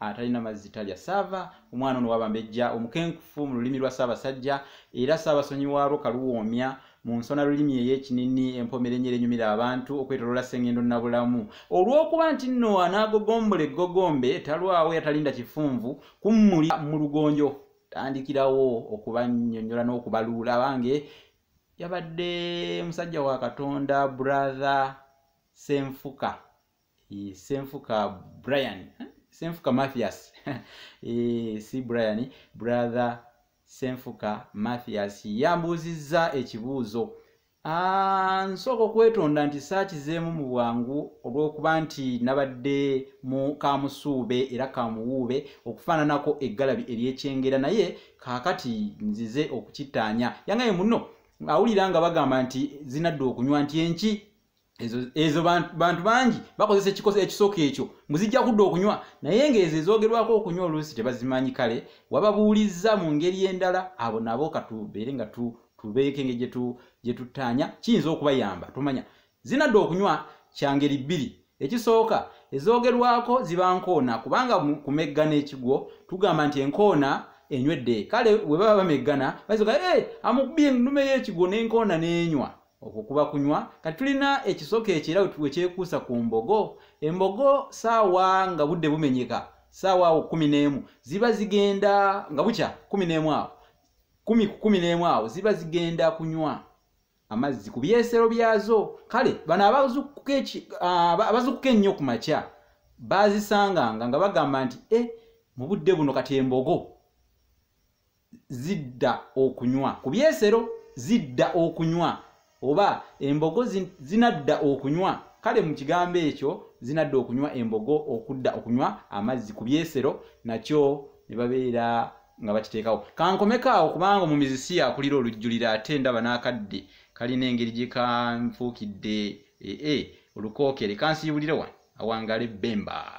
atalina mazzi talya saava omwana ono wabambejja omukenkufu mu lulimi lwa ssaabasajja era ssaabasonyi waalwo kaluwoomya mu nsona lulimi ey'ekinini empomerenyera enyumira abantu okwetolola sengendo nabulamu olw'okuba nti nno anaagogombola eggogombe talwawo yatalinda kifunvu kummuli mu lugonjo tandikirawo okubanyonyola n'okubaluula abange yabadde musajja wa katonda brother senfuka Eh, senfuka brian eh, senfuka mathias eh, si brian brother senfuka mathias yambuuzizza ekibuuzo ah, nsooka okwetonda nti saakizeemu mu bwangu olw'okuba nti nabadde mu kamusuube era kamuwuube okufaananako eggalabi ery'ekyengera naye kaakati nzize okukittaanya yangaye muno awulira nga bagamba nti zinadda okunywa nti enki ezo ezo bantu bantu bangi bakozesa ekikoso ekisooka ekyo mbu zijja kudda okunywa naye ng'ezo ezoogerwako okunywa oluusi tebazimanyi kale wababuulizza mu ngeri endala abo nabo katubeere nga tu tubeeko engeri gyetu gye tuttaanya kiyinza okubayamba tumanya zinadda okunywa kya ngeri bbiri ekisooka ezoogerwako ziba nkoona kubanga kumeggana ekigwo tugamba nti enkoona enywedde kale we baba bameggana baziga e eh, amukubye ennume y'ekigwo n'enkoona n'enywa okwo kuba kunywa kati tulina ekisoko ekyo era wekyekuusa ku mbogo embogo saawa nga budde bumenyeka saawa awo kumi n'emu ziba zigenda nga bukya kumi n'emu awo kumi ku kumi n'emu awo ziba zigenda kunywa amazzi ku byesero byazo kale bano abazukuka ennyo ku makya bazisanganga nga bagamba nti e mu budde buno kati embogo zidda okunywa ku byesero zidda okunywa oba embogo zinadda okunywa kale mu kigambo ekyo zinadda okunywa embogo okudda okunywa amazzi ku byesero nakyo ne babeera nga bakiteekawo kankomeko awo kubanga omumizisi yakulira olujjulira ate ndaba n'akadde kalina engeri gye kanfuukidde ee eh, eh, olukookere kansiibulire wano awangale bemba